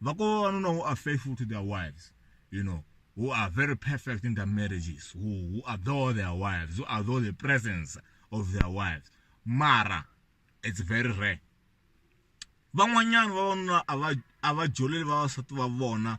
vakovo vanuna who are faithful to their wives you know who are very perfect in their marriages who, who adore their wives who adore the presence of their wives mara it's very rare van'wanyana vavanuna a va joleli vavasati va vona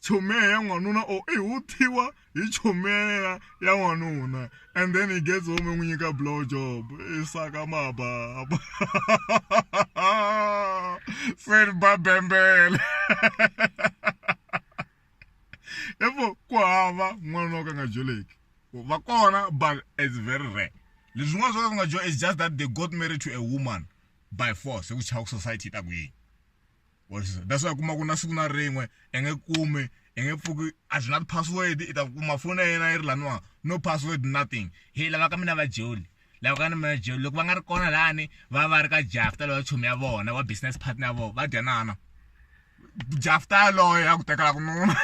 chomeya ya n'wanuna or i huthiwa hi chomeya ya n'wanuna and then he gets home n'wi nyika blow job i saka mababa se ri ba bembele evo ku hava n'wanuna wo ka nga joleki va kona but it's very rare leswi n'wana swo ka nga jo is just that they got married to a woman by force hi ku chava ku society yi ta ku yini wa swi that's why kuma ku na siku na rin'we i nge kumi i nge pfuki a byi na ti-password i ta kuma foni ya yena yi ri laniwa no password nothing he lava ka mina va joli lava ka ni mina joli loko va nga ri kona lani va va ri ka jafta lowa chomi ya vona wa business partner ya vona va dyanana jafta yaloyo ya ku tekela ku nuna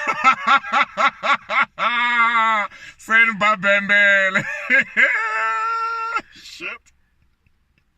seni babembele shit